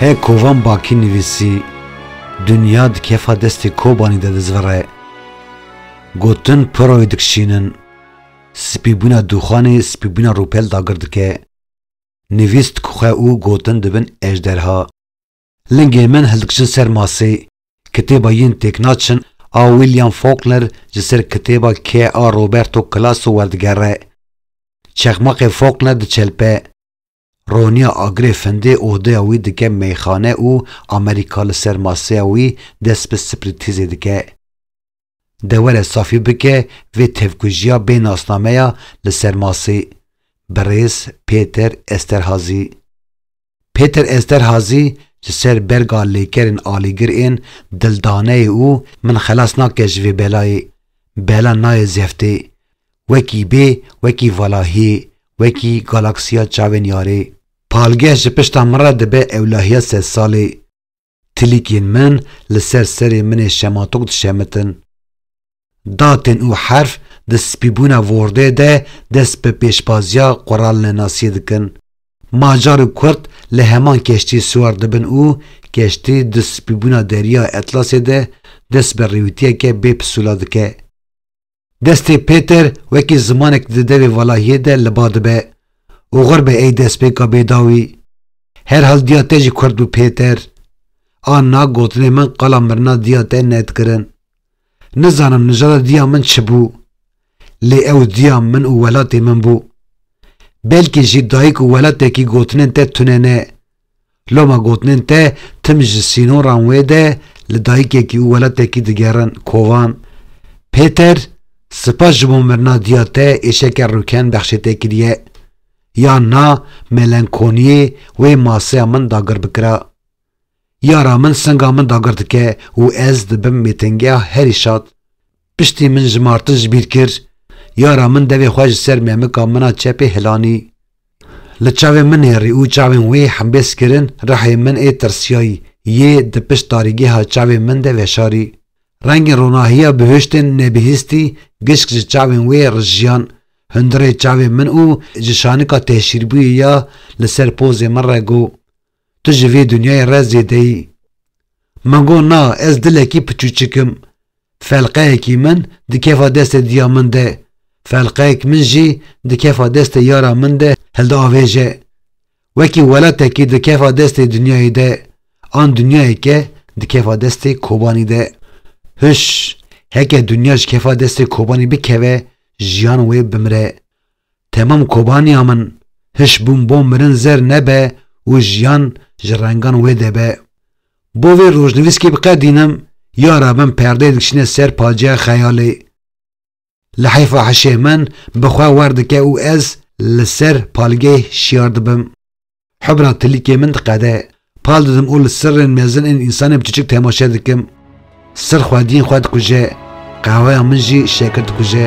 Hê kovan bakî nivîsî Dinya di kefa destê Kobanî de dizvire. Gotin piroyê dikişînin. Spîbûna dûxanê spîbûna rûpel dagir dike. Nivîs dikuxe û gotin dibin ejderha. Lingên min hildikşin ser masê. Kitêba Yên Têk Naçin a William Faulkner ji ser kitêba K. A. Roberto Calasso werdigere. Çexmaqê Faulkner diçelpe. Roniya agirê findê odeya wî dike meyxane û Amerîka li ser maseya wî dest bi spirîtîzê dike. Dewere safî bike vê tevkujiya bê nasnameya li ser masê, Birêz Pêter Esterhazî. Pêter Esterhazî ji ser berga lêkerên alîgir ên dildaneyê û min xelas nake ji vê belayê, bela nayê zeftê, wekî bê, wekî valahiyê, wekî galaksiya çavên yarê. Palgeh ji pişta min re dibe ewlahiya sed salê. Tilîkên min li ser serê min ê şematok dişemitin. Datên û herf di spîbûna Wordê de dest bi pêşbaziya quralinenasiyê dikin. Macar û Kurd li heman keştiyê siwar dibin û keştî di spîbûna Deriya Etlasê de dest bi rêwîtiyeke bê pisûla dike. Destê Pêter wekî zimanek di devê valahiyê de li ba dibe û xur be ey destpêka bêdawî. Herhal diya te jî kurd bû Pêter. A na gotinê min qala mirina diya te nedikirin. Nizanim nijada diya min çi bû. Lê ew diya min û welatê min bû. Belkî jî dayik û welatekî gotinên te tune ne. Loma gotinên te tim ji sînoran wê de li dayikekî û welatekî digerin kovan. Pêter, Spas ji bo mirina diya te êşeke rûken bexşê te kiriye. Ya na melenkoniyê wê maseya min dagir bikira. Yara min singa min dagir dike û ez dibim mêtingeha herî şad. Piştî min ji Martin ji bîr kir, yara min devê xwe ji ser mêmika min a çepê hilanî. Li çavên min hêrî û çavên wê hembêz kirin, rihê min ê tirsiyayî yê di pişt tarîgêha çavên min de veşarî. Rengên ronahiya bihuştên nebihîstî gişk ji çavên wê rijiyan hundirê çavên min û ji şanika têşîrbûyê ya li ser pozê min re got, Tu ji vê dinyayê re zêde yî. Min got na ez dilekî piçûçik im. Felqeyekî min dikeva destê diya min de, felqeyek min jî dikeva destê yara min de hildiavêje. Wekî welatekî dikeva destê dinyayê de, an dinyayeke dikeva destê Kobanî de. Huş, heke dinya ji kefa destê Kobanî bikeve, jiyan wê bimire. Temam Kobaniya min, hişbûn bo mirin zer nebe û jiyan ji rengan wê de be. Bo vê rojnivîskê biqedînim, ya rabin perdeyê diçîne ser paciya xeyalê. Li heyfa hişê min bi xwe werdike û ez li ser palgeyê şiyar dibim. Hubra tilîkê min diqede. Pal didim û li sirrên mezin ên însanê biçiçik temaşe dikim. Sirr xwediyên xwe dikuje. Qeheweya min jî şekir dikuje.